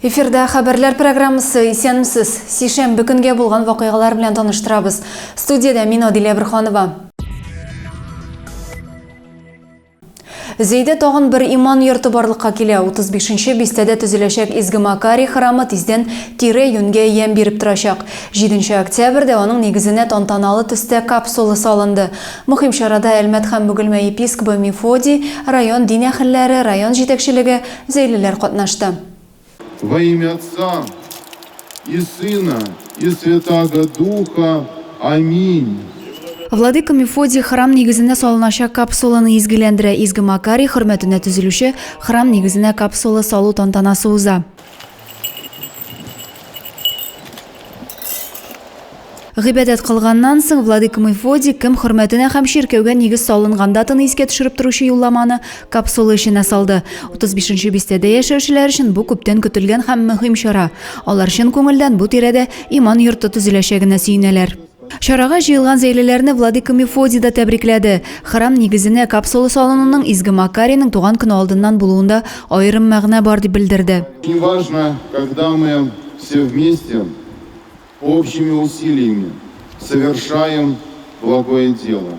Эфирда хәбәрләр программасы исәнмесез. Сишәмбе көнгә булган вакыйгалар белән таныштырабыз. Студиядә мин Адилә Бирханова. Зәйдә тагын бер иман йорты барлыкка килә. 35 нче бистәдә төзеләчәк Изге Макарий храмы тиздән тирә-юньгә ямь биреп торачак. 7 нче октябрьдә аның нигезенә тантаналы төстә капсула салынды. Мөһим чарада Әлмәт һәм Бөгелмә епискобы Мефодий, район дин әһелләре, район җитәкчелеге, зәйлеләр катнашты. Во имя Отца и Сына и Святаго Духа. Аминь. Владыка Мефодий храм нигезенә салыначак капсуланы изгеләндерә, Изге Макарий хөрмәтенә төзелүче храм нигезенә капсула салу тантанасы уза. Гыйбадәт кылганнан соң, владыка Мефодий кем хөрмәтенә һәм чиркәүгә нигез салынган датаны искә төшереп торучы юлламаны капсула эченә салды. 35 нче бистәдә яшәүчеләр өчен бу күптән көтелгән һәм мөһим чара. Алар чын күңелдән бу тирәдә иман йорты төзеләчәгенә сөенәләр. Чарага җыелган зәйлеләрне Владыка Мефодий да тәбрикләде. Храм нигезенә капсула салынуның Изге Макарийның туган көне алдыннан булуында аерым мәгънә бар, дип белдерде. Неважно, когда мы все вместе общими усилиями совершаем благое дело.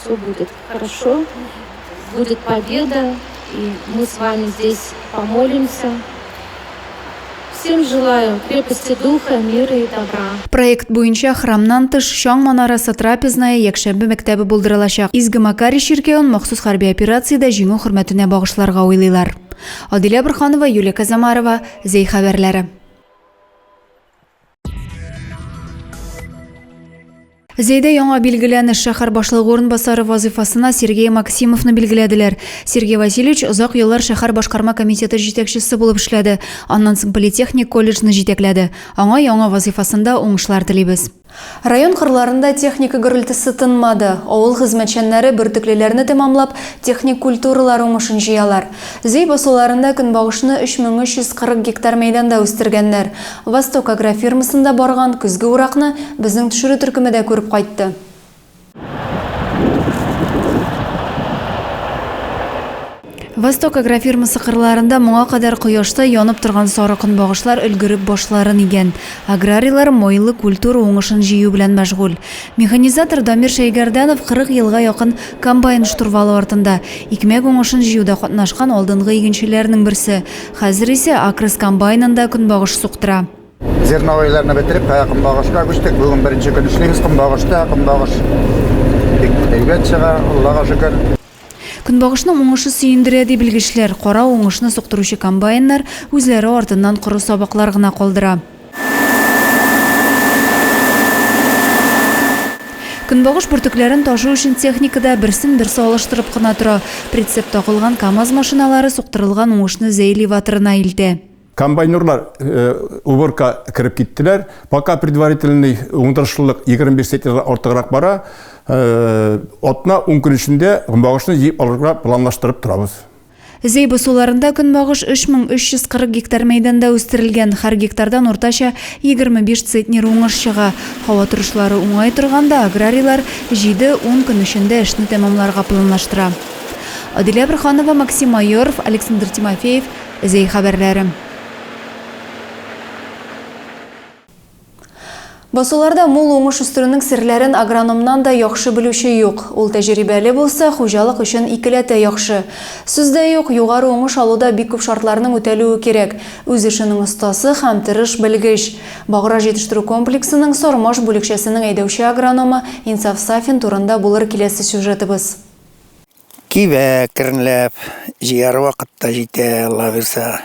Все будет хорошо, будет победа, и мы с вами здесь помолимся. Всем желаю крепости духа, мира и добра. Проект буенча храмнан тыш Чаң манарасы трапезная якшәмбе мәктәбе булдырылачак. Изге Макарий чиркәвен махсус хәрби операциядә җиңү хөрмәтенә багышларга уйлыйлар. Адилә Бурханова, Юлия Казамарова, Зәй хәбәрләре. Зәйдә яңа билгеләнеш шәһәр башлыгы урынбасары вазыйфасына Сергей Максимовны билгеләделәр. Сергей Васильевич озак еллар шәһәр башкарма комитеты җитәкчесе булып эшләде, аннан соң политехник колледжны җитәкләде. Аңа яңа вазыйфасында уңышлар телибез. Район кырларында техника гөрелтесе тынмады. Авыл хезмәтчәннәре бөртеклеләрне тәмамлап, техник культуралар уңышын җыялар. Зөй басуларында көнбагышны 3340 гектар мәйданда үстергәннәр. Восток агрофирмасында барган көзге уракны безнең төшерү төркеме дә күреп кайтты. Восток агрофирмасы кырларында моңа кадәр кояшта янып торган сары көнбагышлар өлгереп башларын игән. Аграрийлар майлы культура уңышын җыю белән мәшгуль. Механизатор Дамир Шәйгәрдәнов 40 елга якын комбайн штурвалы артында, икмәк уңышын җыюда катнашкан алдынгы игенчеләрнең берсе. Хәзер исә Акрос комбайнында көнбагыш суктыра. Зерновойларны бетереп, ә кымбагышка күчтек. Бүген беренче көн эшлибез кымбагышта. Кымбагыш бик әйбәт чыга, Аллага шөкер. Көнбагышның уңышы сөендерә, ди белгечләр. Кара уңышны суктыручы комбайннар үзләре артыннан коры сабаклар гына калдыра. Көнбагыш бөртекләрен ташу өчен техника да берсен-берсе алыштырып кына тора. Прицеп такылган КАМАЗ машиналары суктырылган уңышны Зәйли ватырына илтә. Комбайнерлар уборка кереп киттеләр. Пока предварительный уңдырышлылык 25 центнердан артыграк бара. Атна 10 көн эчендә багышны җыеп алырга планлаштырып торабыз. Зейбо суларында көнбагыш 3340 гектар мәйданда үстерелгән. Һәр гектардан уртача 25 центнер уңыш чыга. Һава торышлары уңай торганда, аграрийлар 7-10 көн эчендә эшне тәмамларга планлаштыра. Адилә Борһанова, Максим Майоров, Александр Тимофеев, Зей хәбәрләрем. Басуларда мул уңыш үстерүнең серләрен агрономнан да яхшы белүче юк. Ул тәҗерибәле булса, хуҗалык өчен икеләтә яхшы. Сүз дә юк, югары уңыш алуда бик күп шартларның үтәлүе кирәк, үз эшенең остасы һәм тырыш белгеч. Баграж җитештерү комплексының Сармаш бүлекчәсенең әйдәүче агрономы Инсаф Сафин турында булыр киләсе сюжетыбыз. Кибә кернләп, җыяр вакыт та җитә, Алла бирса.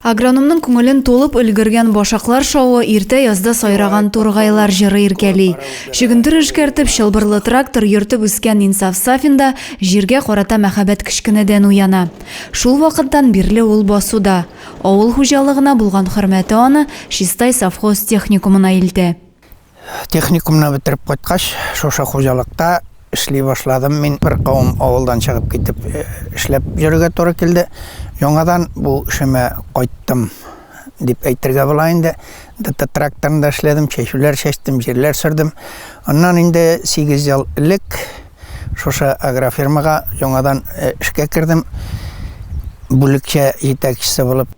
Агрономның күңелен тулып өлгергән башаклар шавы иртә язда сайраган тургайлар җыры иркәли. Чөгендер эшкәртеп, чылбырлы трактор йөртеп үскән Инсаф Сафин да җиргә карата мәхәббәт кечкенәдән уяна. Шул вакыттан бирле ул басуда. Авыл хуҗалыгына булган хөрмәте аны Чистай совхоз техникумына илтә. Техникумны бетереп кайткач, шушы хуҗалыкта эшли башладым. Мин бер кавым авылдан чыгып китеп э, эшләп йөрергә туры килде. Яңадан бу эшемә кайттым дип әйтергә була инде. ДТ тракторында эшләдем, чәчүләр чәчтем, җирләр сөрдем. Аннан инде 8 ел элек Шушы агрофирмага яңадан эшкә кердем, бүлекчә җитәкчесе булып.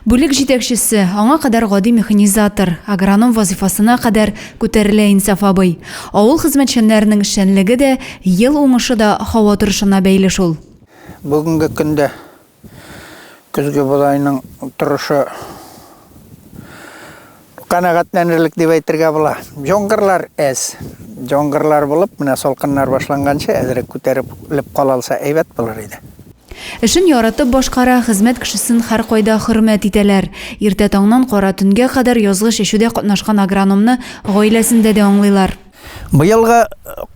Бүлек җитәкчесе, аңа кадәр гади механизатор, агроном вазыйфасына кадәр күтәрелә Инсаф абый. Авыл хезмәтчәннәренең эшчәнлеге дә, ел уңышы да һава торышына бәйле шул. Бүгенге көндә Көзге бодайның торышы канәгатьләнерлек дип әйтергә була. Җонгырлар әз. Җонгырлар булып, менә салкыннар башланганчы әзрәк күтәреп леп кала алса әйбәт булыр иде. Эшен яратып башкара, хезмәт кешесен һәркайда хөрмәт итәләр. Иртә таңнан кара төнгә кадәр язгы чәчүдә катнашкан агрономны гаиләсендә дә аңлыйлар. Быелгы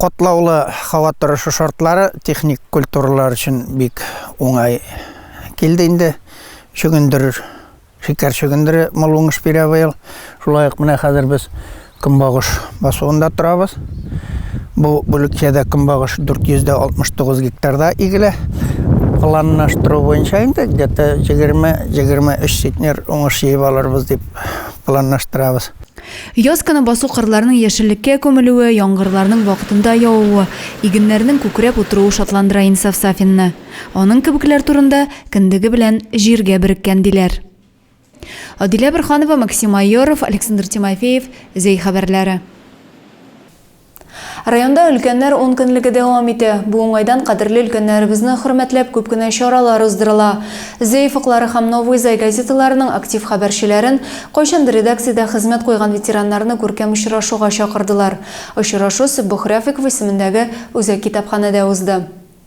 катлаулы һава торышы шартлары техник культуралар өчен бик уңай килде инде. Чөгендер, шикәр чөгендере мул уңыш бирә быел. Шулай ук менә хәзер без көнбагыш басуында торабыз. Бу бүлекчәдә көнбагыш 469 гектарда игелә. Планлаштыру буенча инде где-то 20-23 центнер уңыш җыеп алырбыз дип планлаштырабыз. Яз көне басу кырларның яшеллеккә күмелүе, яңгырларның вакытында явуы, игеннәрнең күкрәп утыруы шатландыра Инсаф Сафинны. Аның кебекләр турында, Кендеге белән җиргә береккән, диләр. Адилә Борһанова, Максим Майоров, Александр Тимофеев, Зәй хәбәрләре. Районда өлкәннәр ункөнлеге дәвам итә. Бу уңайдан кадерле өлкәннәребезне хөрмәтләп күп кенә чаралар уздырыла. Зәй офыклары һәм Новый Зай газеталарының актив хәбәрчеләрен, кайчандыр редакциядә хезмәт куйган ветераннарны күркәм очрашуга чакырдылар. Очрашу Сөббохрәфиков исемендәге Үзәк китапханәдә узды.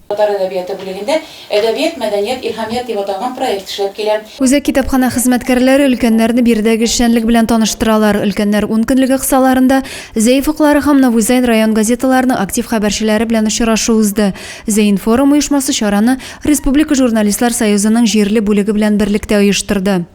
Татар әдәбияты бүлегендә Әдәбият, мәдәният, илһамият дип аталган проект эшләп килә. Үзәк китапханә хезмәткәрләре өлкәннәрне биредәге эшчәнлек белән таныштыралар. Өлкәннәр ункөнлеге кысаларында Зәй фыклары һәм Новузәйн район газеталарының актив хәбәрчеләре белән очрашу узды. Зәйинформ оешмасы чараны Республика журналистлар союзының җирле бүлеге белән берлектә оештырды.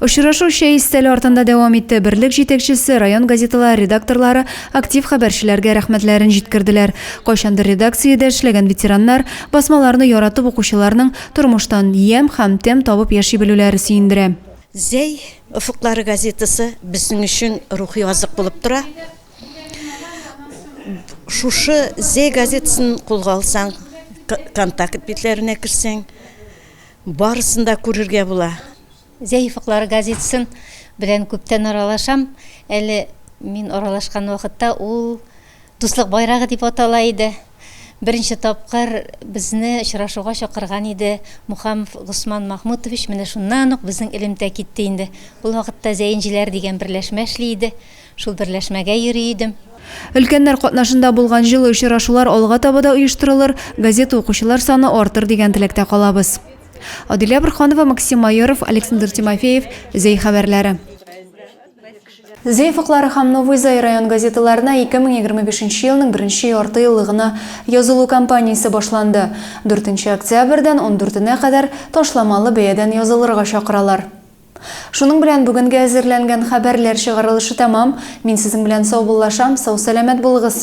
Очрашу чәй өстәле артында дәвам итте. Берлек җитәкчесе, район газеталары редакторлары актив хәбәрчеләргә рәхмәтләрен җиткерделәр. Кайчандыр редакциядә эшләгән ветераннар басмаларны яратып укучыларның тормыштан ямь һәм тәм табып яши белүләре сөендерә. Зәй офыклары газетасы безнең өчен рухи азык булып тора. Шушы Зәй газетасын кулга алсаң, контакт битләренә керсәң, Барысын да күрергә була. Зәифыклар газетасын белән күптән аралашам. Әле мин аралашкан вакытта ул Дуслык байрагы дип атала иде. Беренче тапкыр безне очрашуга чакырган иде Мухамов Госман Махмутович, менә шуннан ук безнең элемтә китте инде. Ул вакытта Зәенҗеләр дигән берләшмә эшли иде. Шул берләшмәгә йөри идем. Өлкәннәр катнашында булган җылы очрашулар алга таба да оештырылыр, газета укучылар саны артыр дигән теләктә калабыз. Адилә Борһанова, Максим Майоров, Александр Тимофеев, Зәй хәбәрләре. Зәй фыклары һәм Новый Зай район газеталарына 2025 елның беренче ярты еллыгына язылу кампаниясе башланды. Дүртенче октябрьдән ундүртенә кадәр ташламалы бәядән язылырга чакыралар. Шуның белән бүгенге әзерләнгән хәбәрләр чыгарылышы тәмам. Мин сезнең белән саубуллашам, сау-сәламәт булыгыз!